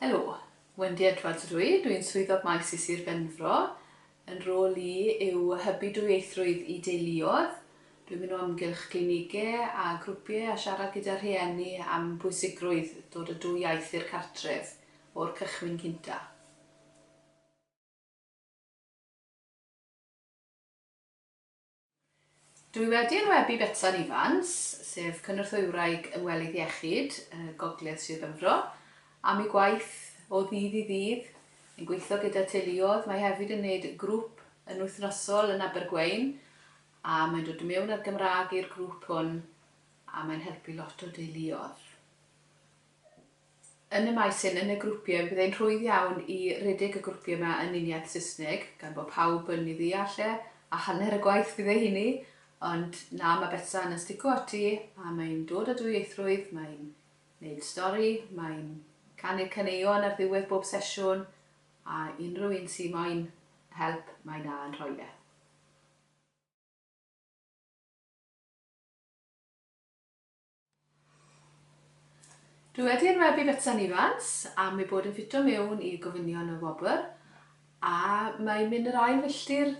Helo, Wendy Edwards ydw i, dw i'n Swyddog Maes i Sir Benfro. Fy nhrôl i yw hybu dwyieithrwydd i deuluoedd. Dw i'n mynd o amgylch glinigau a grwpiau a siarad gyda rhieni am bwysigrwydd dod â dwy iaith i'r cartref o'r cychwyn cyntaf. Dwi wedi enwebu Betsan Ifans, sef Cynorthwywraig Ymwelydd Iechyd Gogledd Sir Benfro, am ei gwaith o ddydd i ddydd yn gweithio gyda teuluoedd. Mae hefyd yn wneud grŵp yn wythnosol yn Abergweun a mae'n dod i mewn â'r Gymraeg i'r grŵp hwn a mae'n helpu lot o deuluoedd. Yn y maes hyn, yn y grwpiau, bydd e'n rhwydd iawn i redeg y grwpiau 'ma yn uniaith Saesneg, gan bo' pawb yn 'i ddeall e, a hanner y gwaith fydd e i ni. Ond na, ma' Betsan yn stico ati, a mae'n dod â dwyieithrwydd, mae'n neud stori, mae'n canu'r caneuon ar ddiwedd bob sesiwn, a unrhyw un sy moyn help, mae 'na yn rhoi e. Dwi wedi enwebu Betsan Ifans am ei bod yn ffito mewn i gofynion y wobr a mae hi'n mynd yr ail filltir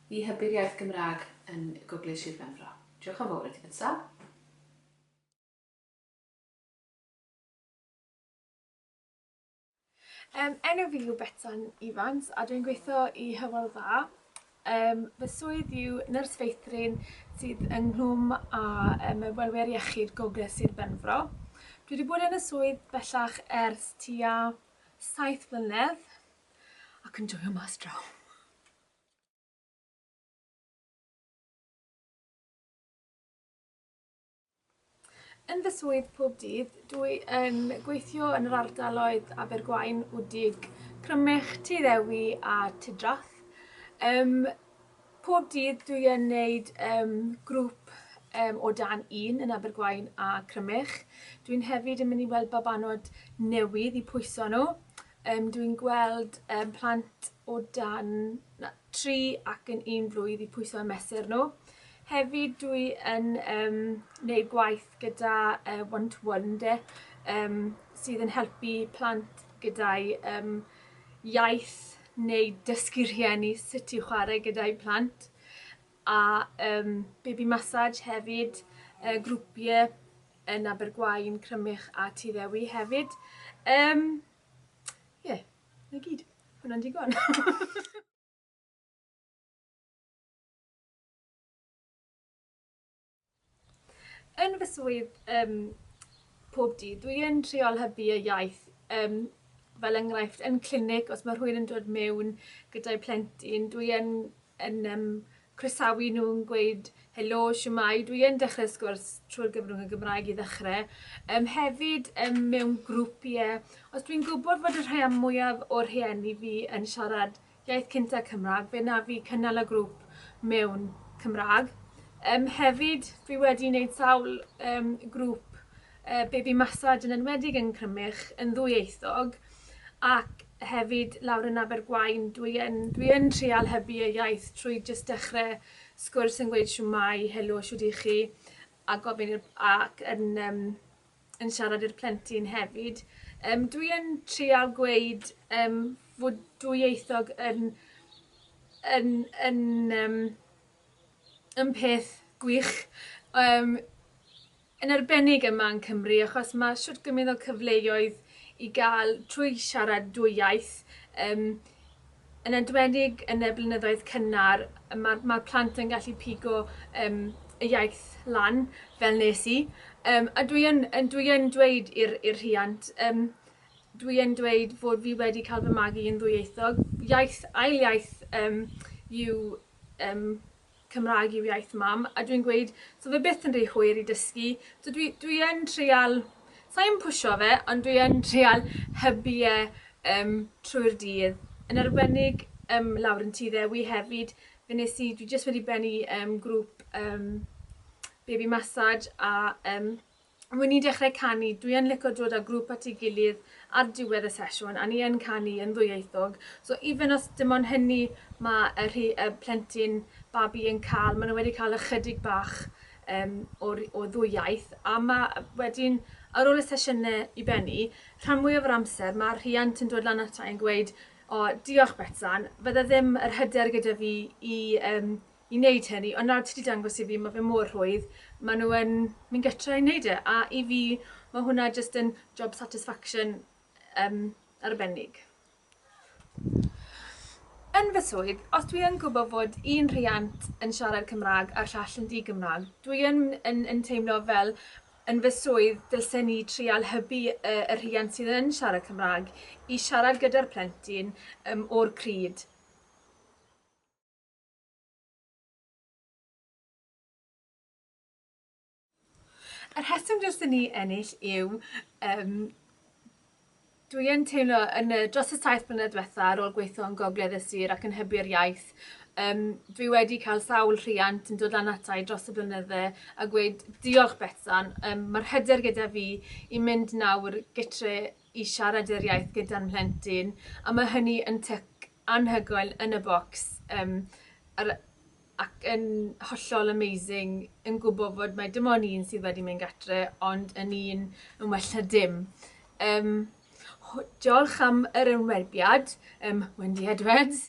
i hybu'r iaith Gymraeg yn Gogledd Sir Benfro. Diolch yn fawr i ti Betsan. Yym, enw fi yw Betsan Evans a dwi'n gweithio i Hywel Dda. Yym, fy swydd yw nyrs feithrin sydd yng Nghlwm a um, Ymwelwyr Iechyd Gogledd Sir Benfro. Dwi wedi bod yn y swydd bellach ers tua saith flynedd ac yn joio mas draw. Yn fy swydd pob dydd, dw i yn gweithio yn yr ardaloedd Abergwaun, Wdig, Crymych, Tŷ Ddewi a Tŷ Drath. Um, pob dydd dw i yn gwneud um, grŵp um, o dan un yn Abergwaun a Crymych. Dwi'n hefyd yn mynd i weld babanod newydd i pwyso nhw. Um, dwi'n gweld um, plant o dan... Na, tri ac yn un blwydd i pwyso a mesur nhw. Hefyd dwi yn um, neud gwaith gyda uh, one to one de um, sydd yn helpu plant gyda'i um, iaith neu dysgu rhieni sut i chwarae gyda'i plant a um, baby massage hefyd uh, grwpiau yn Abergwaun, Crymych a Tuddewi hefyd. Um, yeah. 'Na gyd. Hwnna'n digon. Yn fy swydd um, pob dydd, dwi yn triol hybu y iaith um, fel enghraifft yn clinig, os mae rhywun yn dod mewn gyda'i plentyn, dwi yn yn yym croesawu nhw, yn gweud helo, shwmae, dwi yn dechrau y sgwrs trwy'r gyfrwng y Gymraeg i ddechrau. Um, hefyd um, mewn grŵp, ie. Yeah. Os dwi'n gwybod fod y rhai am mwyaf o'r rhieni fi yn siarad iaith cyntaf Cymraeg, fe na fi cynnal y grŵp mewn Cymraeg. Um, hefyd, dwi wedi wneud sawl um, grŵp uh, baby massage yn enwedig yn Crymych yn ddwyieithog ac hefyd lawr yn Abergwaun dwi yn dwi yn trial hybu y iaith trwy jyst dechre sgwrs yn gweud shwmae, helo, shwd i chi a gofyn i'r ac yn yym yn siarad i'r plentyn hefyd yym dwi yn trial gweud yym fod dwyieithog yn yn yn yym yn peth gwych yym yn arbennig yma yn Cymru achos mae shwt gymint o cyfleoedd i gael trwy siarad dwy iaith yym yn enwedig yn y blynyddoedd cynnar mae'r mae'r plant yn gallu pigo yym y iaith lan fel nes i yym a dwi yn yn dwi yn dweud i'r i'r rhiant yym dwi yn dweud fod fi wedi cael fy magu yn ddwyieithog iaith ail iaith yym yw yym Cymraeg yw iaith mam a dwi'n gweud so fe byth yn rhy hwyr i dysgu so dwi dwi yn trial sai yn pwsho fe ond dwi yn trial hybu e yym trwy'r dydd yn arbennig yym lawr yn tŷ ddewi hefyd fe nes i dwi jyst wedi bennu yym grŵp yym baby massage a yym Wi ni'n dechrau canu, dwi yn lico dod â grŵp at ei gilydd ar diwedd y sesiwn a ni yn canu yn ddwyieithog, so even os dim ond hynny ma' y rhi- y plentyn, babi, yn ca'l, ma' nhw wedi ca'l ychydig bach yym o'r o ddwy iaith a ma' wedyn ar ôl y sesiyne i bennu, rhan mwyaf o'r amser ma'r rhiant yn dod lan ata i yn gweud, O, diolch Betsan, fydde ddim yr hyder gyda fi i yym i wneud hyn i ond nawr ti 'di dangos i fi ma' fe mor rhwydd ma' nhw yn mynd gytre i wneud e a i fi ma' hwnna jyst yn job satisfaction yym arbennig. Yn fy swydd os dwi yn gwbo fod un rhiant yn siarad Cymrâg a'r llall yn di-Gymrâg dwi yn yn yn teimlo fel yn fy swydd dylse ni trial hybu y y rhiant sydd yn siarad Cymrâg i siarad gyda'r plentyn yym o'r pryd Y rheswm dros i ni ennill yw um, dwi yn teimlo yn y, dros y saith blynedd diwetha ar ôl gweithio yn Gogledd y Sir ac yn hybu'r iaith, um, dwi wedi cael sawl rhiant yn dod lan ata i dros y blynydde a gweud diolch Betsan, um, mae'r hyder gyda fi i mynd nawr gytre i siarad yr iaith gyda'n mhlentyn a mae hynny yn tyc anhygoel yn y bocs yym yr ac yn hollol amazing yn gwybod fod mae dim ond un sydd wedi mynd gatre ond yn un yn well na dim. Um, diolch am yr ymwerbiad, um, Wendy Edwards.